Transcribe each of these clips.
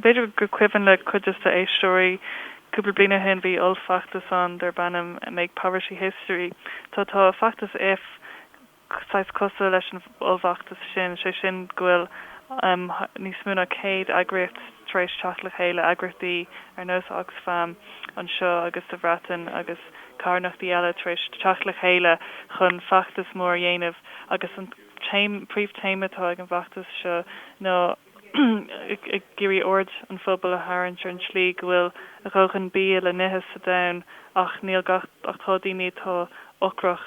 B'fhéidir gur cuimhin le cuid de do chuid éisteoirí, cúpla bliain ó shin bhí ollfheachtas ann darb ainm Make Poverty History. Tá tá feachtas IF saghas cosúil leis an ollfheachtas sin, sé sin go bhfuil níos mó ná céad eagraíocht tar éis teacht le chéile, eagraíochtaí ar nós Oxfam anseo agus sa Bhreatain agus carthanachtaí eile tar éis teacht le chéile chun feachtas mór a dhéanamh agus an téama, príomh téama atá ag an bhfeachtas seo ná. ag iarraidh aird an phobail a tharraingt ar an tslí go bhfuil a dhóthain bia le n-ithe sa domhan ach níl gach ach tá daoine atá ocrach.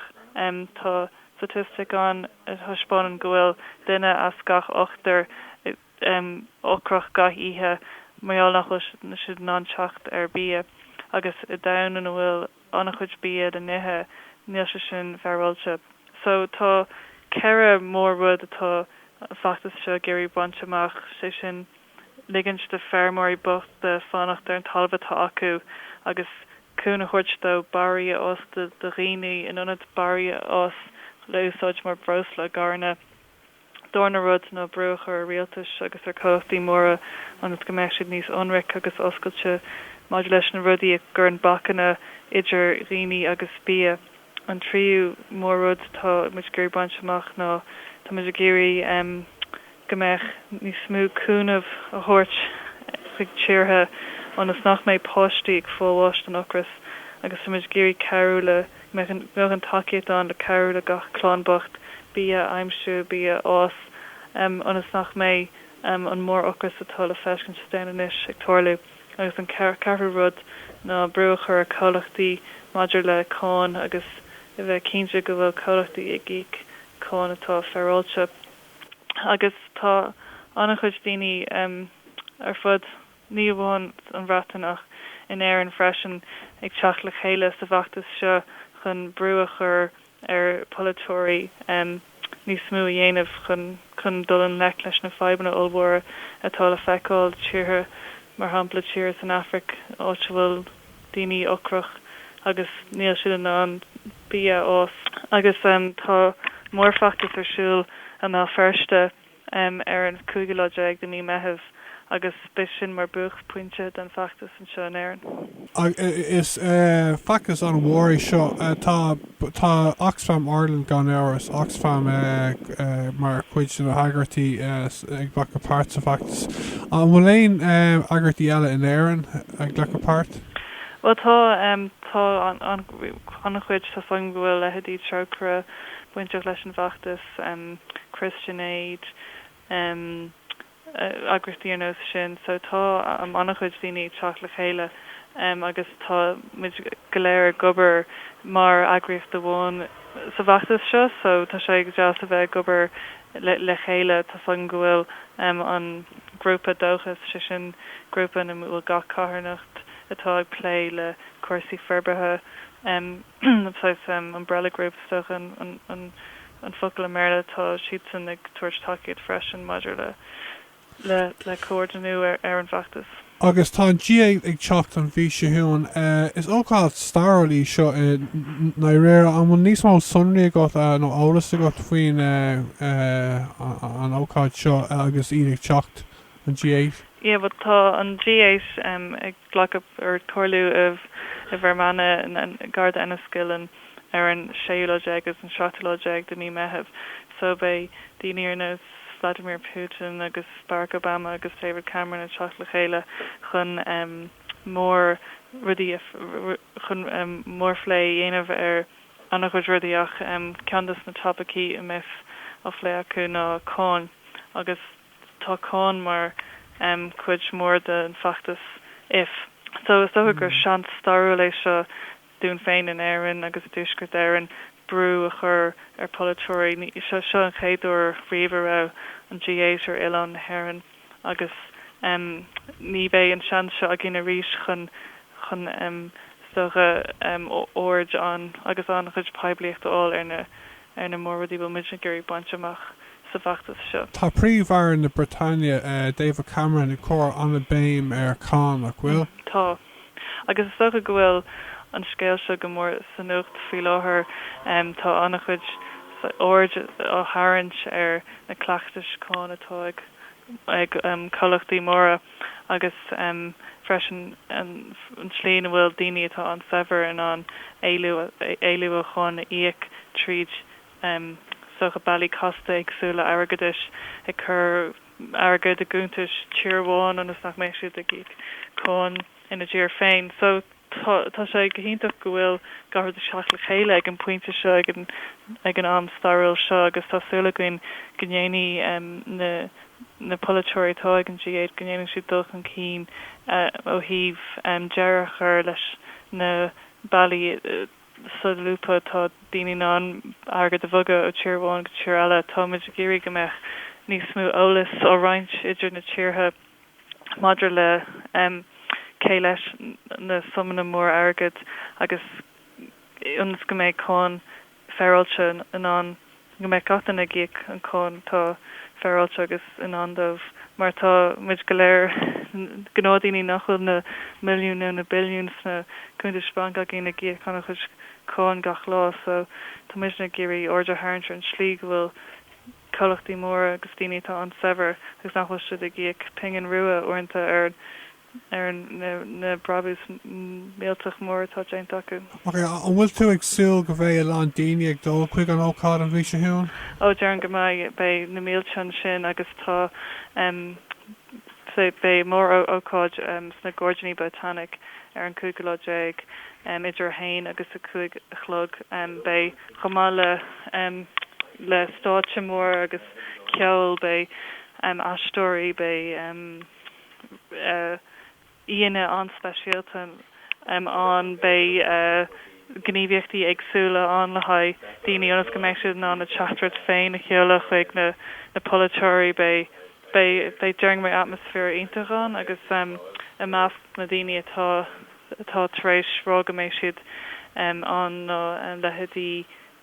Tá staitistic ann a thaispeánann go bhfuil duine as gach ochtar ocrach gach oíche mar gheall nach bhfuil siad in ann teacht ar bhia agus i domhan ina bhfuil an-chuid bia le n-ithe, níl sé sin féaráilte. So tá ceithre mór-rud atá an feachtas seo ag iarraidh baint amach, sé sin, ligint do feirmeoirí bochta fanacht ar an talamh atá acu agus cúnamh a thabhairt dóibh barraí a fhás do dhaoine in ionad barraí a fhás le úsáid mar breosla i gcarranna, darna rud ná brú a chur ar rialtais agus ar comhlachtaí móra ionas go mbeadh siad níos ionraic agus oscailte maidir leis na rudaí a chuireann bacanna idir dhaoine agus bia. An tríú mór-rud atá muid ag iarraidh baint amach ná tá muid ag iarraidh go mbeadh níos mó cúnamh a thabhairt chuig tíortha ionas nach mbeidh páistí ag fáil bháis den ocras agus tá muid ag iarraidh cabhrú le mbeadh an tacaíocht ann le cabhrú le gach clann bocht bia a aimsiú, bia a fhás, ionas nach mbeidh an mór-ocras atá le feiscint sa domhan anois ag tarlú. Agus an ceathrú rud ná brú a chur ar chomhlachtaí maidir le cáin agus a bheith cinnte go bhfuil comhlachtaí ag íoc cáin atá féaráilte. Agus tá an-chuid daoine ar fud. ní amháin an Bhreatain ach in Éirinn freisin, ag teacht le chéile sa bhfeachtas seo chun brú a chur ar pholaiteoirí níos mó a dhéanamh chun dul i ngleic leis na fadhbanna ollmhóra atá le feiceáil i dtíortha mar shampla tíortha san Afraic, áit a bhfuil daoine ocrach agus níl siad in ann bia a fhás. Agus tá mórfheachtas ar siúl i mBéal Feirste ar an 5ú lá déag de mí Meitheamh agus beidh sin mar buaicphointe den feachtas anseo in Éirinn. Ach is feachtas an-mhór é seo. Tá Oxfam Ireland, gan amhras, Oxfam mar chuid de na heagraíochtaí ag glacadh páirt sa bhfeachtas. An bhfuil aon eagraíochtaí eile in Éirinn ag glacadh páirt? Bhuel tá, tá an-chuid. Tá a fhios agam go bhfuil leithéidí Trócaire bainteach leis an bhfeachtas. Christian Aid eagraíochtaí ar nós sin. So tá an-chuid daoine ag teacht le chéile agus tá muid go léir ag obair mar eagraíocht amháin sa bhfeachtas seo. So tá sé ag deas a bheith ag obair le chéile. Tá a fhios agam go bhfuil an grúpa Dóchas, sé sin grúpa ina bhfuil gach carthanacht atá ag plé le cúrsaí forbartha, Saghas umbrella group is dócha an focal i mBéarla. Tá siadsan ag tabhairt tacaíocht freisin maidir le comhordnú ar an bhfeachtas. Agus tá an G8 ag teacht an mhí seo chugainn. Is ócáid stairiúil í seo i ndáiríre. An bhfuil níos mó sonraí agat nó eolas agat faoin ócáid seo agus iad ag teacht? an G8. yeah but tá an G8 em ag glacadh or comhairliú i i bhFear Manach gar do Enniskillen ar an séú lá déag agus an seachtú lá déag de mhí Meithimh so beidh daoine ar nós Vladimir Putin agus Barack Obama agus David Cameron ag teacht le chéile chun em mór rudaí a chun em mórphlé a dhéanamh ar an-chuid rudaí ach em ceann dos na topaicí a mbeas á phlé acu ná cáin agus Tá cáin mar chuid mhór den fheachtas If so is dócha gur seans stairiúil é seo dúinn féin in Éirinn agus i dTuaisceart Éireann brú a chur ar pholaiteoirí. Seo an chéad uair riamh a raibh an G8 ar oileán na hÉireann agus ní bheidh an seans seo againn arís chun chun is dócha aird agus an-chuid poiblíocht a fháil ar na Ar na mór-rudaí a bhfuil muid ag iarraidh baint amach sa bhfeachtas seo. Tá Príomh-Aire na Briotáine, David Cameron, ag cur an-béim ar cháin, nach bhfuil? Tá. Agus is dócha go bhfuil an scéal seo go mór sa nuacht faoi láthair. Tá an-chuid aird á tharraingt ar na cleachtais cháin atá ag ag comhlachtaí móra agus freisin an tslí ina bhfuil daoine atá an-saibhir in ann éalú ó cháin a íoc tríd is dócha bealaí casta éagsúla airgeadais, ag cur airgead i gcuntais tír amháin ionas nach mbeidh siad ag íoc cáin ina dtír féin. So, tá sé go hiontach go bhfuil gach rud ag teacht le chéile ag an bpointe seo, ag an, ag an am stairiúil seo agus tá súil againn go ndéanfaidh na, na polaiteoirí atá ag an G8, go ndéanfaidh siad dul chun cinn ó thaobh deireadh a chur leis na bealaí solúbtha atá daoine in ann airgead a bhogadh ó thír amháin go tír eile. Táimid ag iarraidh go mbeadh níos mó eolais á roinnt idir na tíortha. maidir le cé leis na suimeanna móra airgid agus ionas go mbeidh cáin féaráilte ann, go mbeidh gach duine ag íoc an cháin atá féaráilte agus i ndán dóibh, mar tá muid go léir gnáthdhaoine nach bhfuil na milliúin nó na billiúin sna cuntais bainc againn ag íoc an-chuid cáin gach lá, so tá muidne ag iarraidh aird a tharraingt ar an slí go bhfuil. comhlachtaí móra agus daoine atá an-saibhir agus nach bhfuil siad ag íoc pingin rua uaireanta ar na brabúis millteach mór atá déanta acu. Ok, an bhfuil tú ag súil go mbeidh a lán daoine ag dul chuig an ócáid an mhí seo chugainn? Ó, déarfainn go mbeidh. Beidh na mílte ansin agus tá. Beidh mór-ócáid sna Gairdíní Botanic ar an 15 lá, idir 1 agus 5 a chlog. Beidh, chomh maith le stáitse mór agus ceol, beidh aisteoirí, beidh. Aíonna an-speisialta ann, beidh gníomhaíochtaí éagsúla ann le haghaidh daoine ionas go mbeidh siad in ann a teachtaireacht féin a sheoladh chuig na polaiteoirí. Beidh déarfainn atmaisféar iontach ann agus i measc na daoine atá tar éis rá go mbeidh siad ann ná leithéidí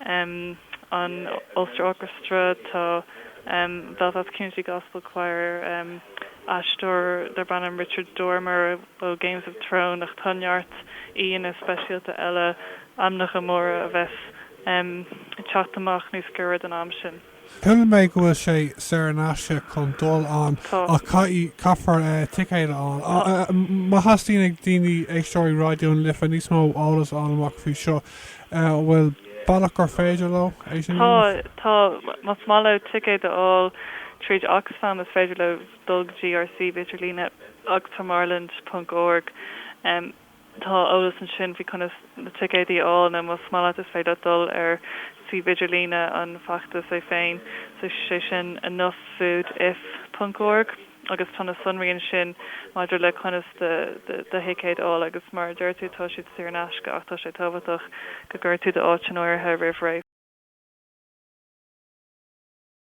um an Ulster Orchestra, tá um Belfast Community Gospel Choir, um aisteoir darb ainm Richard Dormer ó Games of Thrones ach tá neart aíonna speisialta eile, ainmneacha móra a bheas um ag teacht amach níos gaire don am sin. Chuala mé go bhfuil sé saor in aisce chun dul ann ach caithfidh, caithfear ticéad a fháil. Má theastaíonn ag daoine, éisteoirí Raidió na Life, níos mó eolas a fháil amach faoi seo, an bhfuil bealach gur féidir leo é sin a dhéanamh? Tá, tá. Más maith leo ticéad a fháil tríd Oxfam, is féidir leo dul go dtí ár suíomh idirlíne, oxfamireland.org. Tá eolas ansin faoi conas na ticéadaí a fháil nó más maith leat is féidir leat dul ar suíomh idirlíne an feachtais é féin, sé sin enoughfoodif.org agus tá na sonraí ansin maidir le conas do thicéad a fháil agus mar a deir tú tá siad saor in aisce ach tá sé tábhachtach go gcuireann tú d'áit in áirithe roimh ré.